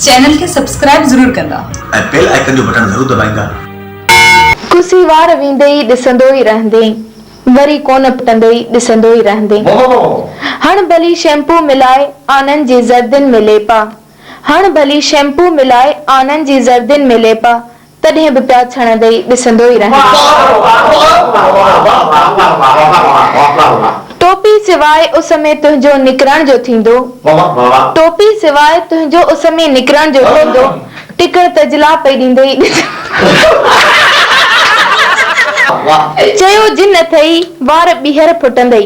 Channel کي subscribe ضرور ڪندا. ۽ بيل آئيڪن جو بٽڻ ضرور دٻائيندا. ڪسي وار ويندي ئي ڏسندو ئي رهندين وري ڪونه پٽندي ئي ڏسندو ئي رهندين هڻ ڀلي شيمپو ملائي آنن جي زردين ۾ ليپا هڻ ڀلي شيمپو ملائي آنن جي زردين ۾ ليپا تڏهن به پيا ڇڻندئي ڏسندو ئي رهندس. ٽوپي سواء اس ۾ تنهنجو نڪرڻ جو ٿيندو. ٽوپي سواء تنهنجو اس ۾ نڪرڻ جو ٿيندو. ٽڪڙ تجلا پئي ڏيندئي ڏسندس. چيو جن اٿئي وار ٻيهر ڦٽندئي.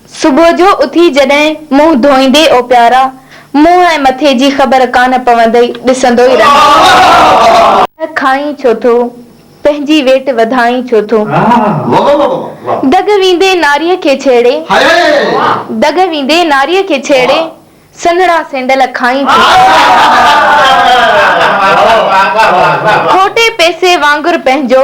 صبح جو اٿي جڏهن منهن ڌوئيندي اوپيارا منهن ۽ مٿي جي خبر ڪانه پوندئي ڏسندو ئي رهندو. ته کائين ڇو ٿو؟ پنهنجي ويٽ وڌائين ڇو ٿو؟ دڳ ويندي ناريء کي ڇيڙي، دڳ ويندي ناريء کي ڇيڙي، سنهڙا سينڊل کائين ڇو ٿو؟ کوٽي پئسي وانگر پنهنجو.